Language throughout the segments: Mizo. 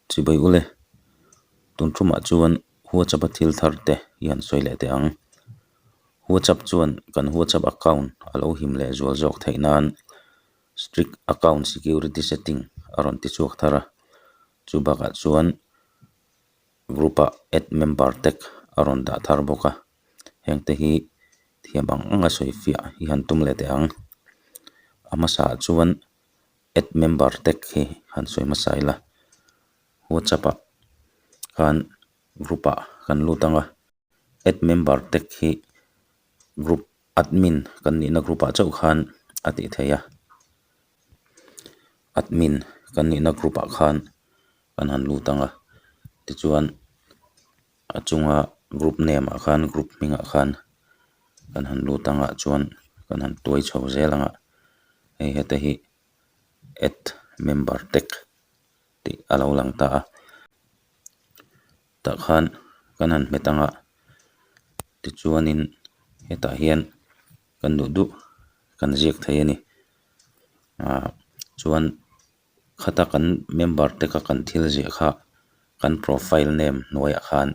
Chibai ule, tun ṭumah chuan WhatsApp-a thil thar te i han sawi leh teh ang. WhatsApp chuan kan WhatsApp account a lo him leh zual zawk theih nan strict account security setting a rawn ti chhuak thar a. Chu bakah chuan group-a add member tek a rawn dah thar bawk a. Heng te hi thiam ang anga sawifiah i han tum leh teh ang. A hmasa ah chuan-- add member tag hi han sawi hmasa ila whatsapp ah khan group ah kan lut anga add member tag hi group admin kan nihna group ah chauh khan a tih theih a admin kan nihna group ah khan kan han lut anga tichuan-- A chunga group name ah khan group hming ah khan kan han lut ang ah chuan kan han tuai chho zel ang a, hei hete hi add member tag tih a lo lang ta a, tah khan kan han hmet ang a tichuanin hetah hian kan duh duh kan ziak thei a ni ahh chuan-- Khata kan member te ka kan thil ziah kha kan profile name hnuaiah khan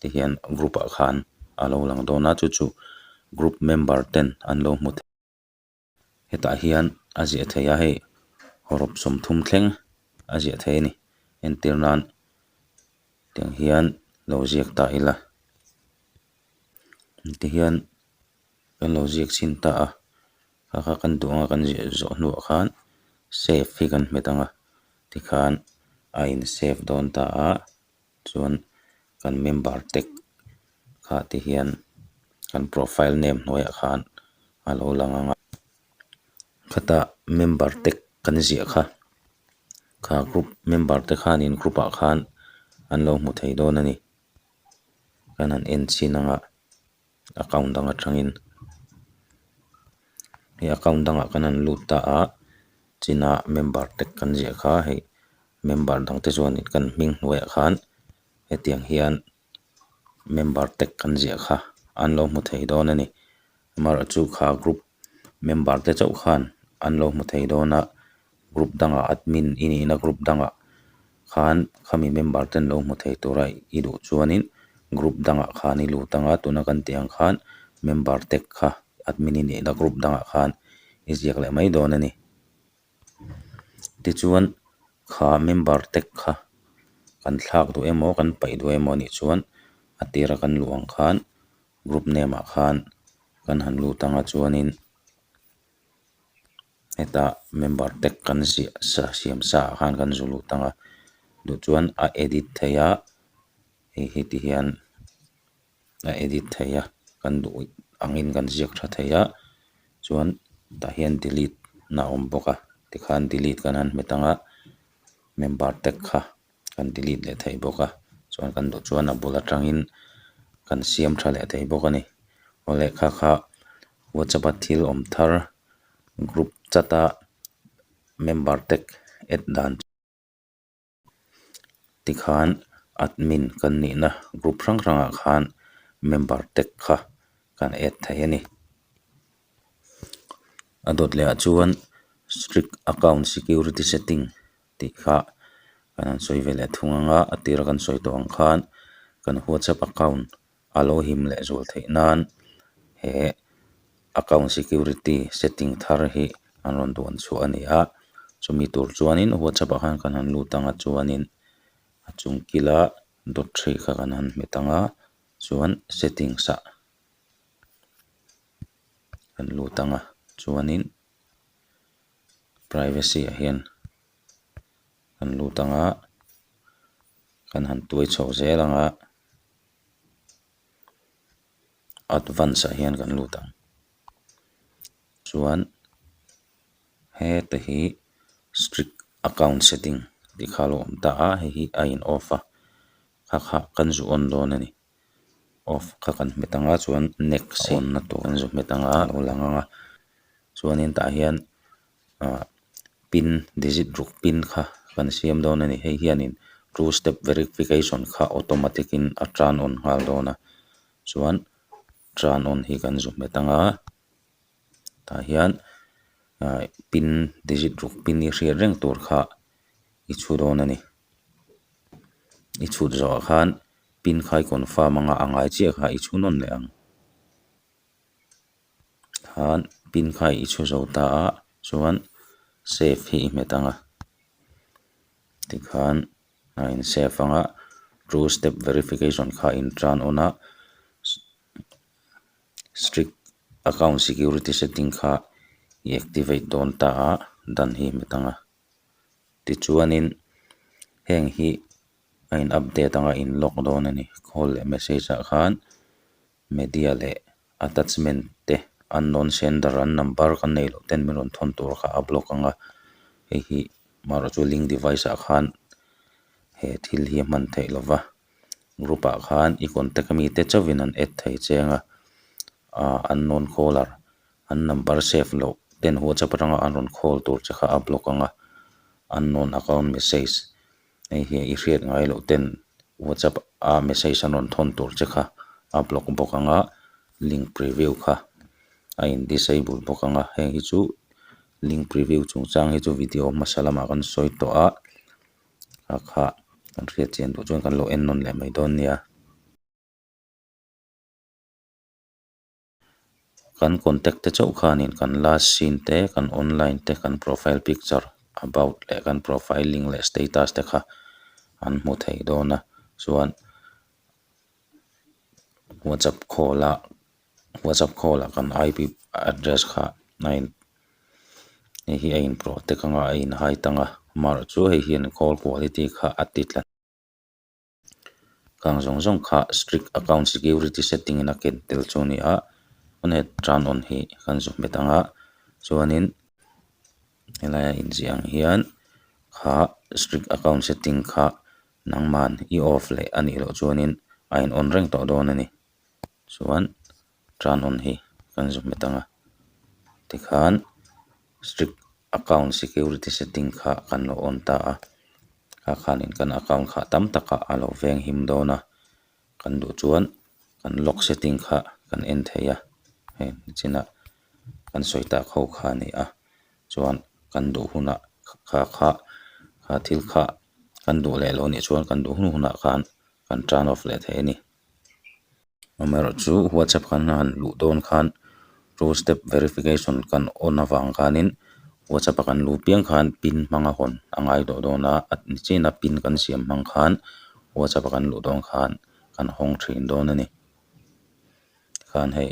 te hian group ah khan a lo lang dawn a chu chu group member ten an lo hmu thei hetah hian a ziah theih a hei rop sawmthum thleng a ziah theih a ni entir nan tiang hian lo ziak ta ila ti hian kan lo ziak chhin ta a. Kha kha kan duang a kan ziah zawh hnuah khan save hi kan hmet ang a tikhan a in save dawn ta a chuan kan member tag kha te hian kan profile name hnuaiah khan a lo lang ang a khata member tag kan ziah kha kha group member te khanin group ah khan an lo hmu thei dawn a ni kan han en chin ang a. account dang atangin he account dangah kan han lut ta a chinna member te kan ziah kha hei member dang te chuan kan hming hnuaiah khan hetiang hian member te kan ziah kha an lo hmu thei dawn a ni amaherawhchu kha group . member te chauh khan an lo hmu thei dawn a group dang ah admin i nih na group dang ah khan khami member ten lo hmu thei tur a i duh chuan in group dang ah khan i lut ang a tuna kan tih ang khan member te kha admin i nih na group dang ah khan i ziak leh mai dawn a ni tichuan kha member te kha kan thlak duh emaw kan paih duh emaw nih chuan a tir a kan luh ang khan. group name ah khan kan han lut anga chuanin heta member te kan ziah sa siam sa ah khan kan zu lut ang a duh chuan a edit theih a hei heti hian a edit theih a kan duh angin kan ziak tha thei a chuan tah hian delete na awm bawk a tikhan delete kan han hmet ang a member te kha. kan delete leh thei bawk a chuan kan duh chuan a bul atangin kan siam tha leh thei bawk a ni aw lehkha kha whatsapp a thil awm thar group chat a member te add dan tikhan admin kan nihna group hrang hrang ah khan member te kha kan add thei a ni a dawt leh ah chuan strict account security setting -- tih kha kan han sawi ve leh thung anga a tir kan sawi tawh ang khan kan whatsapp account a lo him leh zual theih nan he account security setting thar hi an rawn duan chhuah a ni a chumi tur chuanin whatsapp ah khan kan han lut ang a chuanin a chung kila dot three kha kan han hmet ang a chuan settings ah kan lut ang a chuanin-- privacy ah hian kan lut ang a kan han tuai chho zel ang a advance ah hian kan lut ang chuan hete hi strict account setting tih kha a lo awm ta a hei hi a in off a kha kha kan zu awn dawn a ni. off kha kan hmet anga chuan next a on na tur kan zut hmet anga a lo lang anga chuanin tah hian ah pin digit ruk pin kha kan siam dawn a ni hei hianin two step verification kha automatic in a turn on nghal dawn a chuan turn on hi kan zut hmet anga. tah hian ah pin digit ruk pin i hriat reng tur kha i chhu dawn a ni i chhut zawhah khan pin khai confirm anga a ngai chiah kha i chhu nawn leh ang khan pin kha i chhu zo ta a chuan save hi i hmet ang a tikhan a in save ang a two step verification kha a in tran awn a. Strict account security setting kha i activate dawn ta a dan hi hmet ang a, tichuanin heng hi a in update ang a in lock dawn a ni, call leh message ah khan media leh attachment te unknown sender an number kan nei loh ten min rawn thawn tur kha a block ang a, hei hi mahraihchu link device ah khan he thil hi a hman theih lo va. group ah khan i contact ami te chauh in an add thei cheng a ah unknown caller an number save loh te an whatsapp atang a an rawn call tur che kha a block ang a unknown account message hei hi i hriat ngai loh ten whatsapp a message an rawn thawn tur che kha a block bawk ang a link preview kha a in disable bawk ang a heng hi chu link preview chung chang hi chu video hmasa lamah kan sawi tawh a. Hakha kan hriatchian duh chuan kan lo en nawn leh mai dawn nia. Kan contact te chauh khanin kan last seen te, kan online te, kan profile picture, about leh kan profile link leh status te kha an hmu thei dawn a chuan WhatsApp call a-- WhatsApp call ah kan IP address kha a in hei hi a in protect anga a in hide ang a amaherawhchu chu hei hian call quality kha a ti tlat kang zawng zawng kha strict account security setting in a ken tel chu a ni a pawn heh tan awn hi kan zu hmet ang a chuanin helai a inziah ang hian kha strict account setting kha nangman i off leh anih loh chuanin a in on reng tawh dawn a ni. chuan ṭan hawn hi kan zuk hmet ang a tikhan strict account security setting kha kan lo on ta a kha khanin kan account kha tam takah a lo veng him dawn a kan duh chuan kan lock setting kha kan en thei a hei chinah kan sawi ta kho kha a ni a chuan kan duh hunah kha kha thil kha kan duh leh lo nih chuan kan duh hunu hunah khan kan ṭan off leh thei a ni. amaherawhchu chu whatsapp khan a han luh dawn khan two step verification kan on avang khanin whatsapp a kan lu piang khan pin hmanga hawn a ngaihlawh dawn a a ni china pin kan siam hmang khan whatsapp a kan luh dawn khan kan hawng thin dawn a ni tikhan hei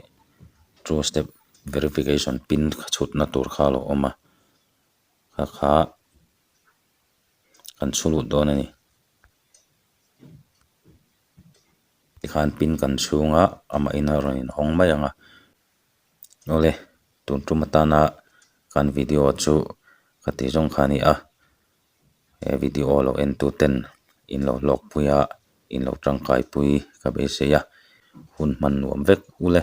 two step verification pin chhutna tur kha a lo awm a kha kha kan chhu lut dawn a ni. tikhan pin kan chhunga amah in a rawn in hawng mai ang a awle tun tum atana kan video chu ka tih zawng kha a ni a he video lo en tu ten in lo hlawk pui a in lo tangkai pui ka beisei a hun hman nuam vek ula.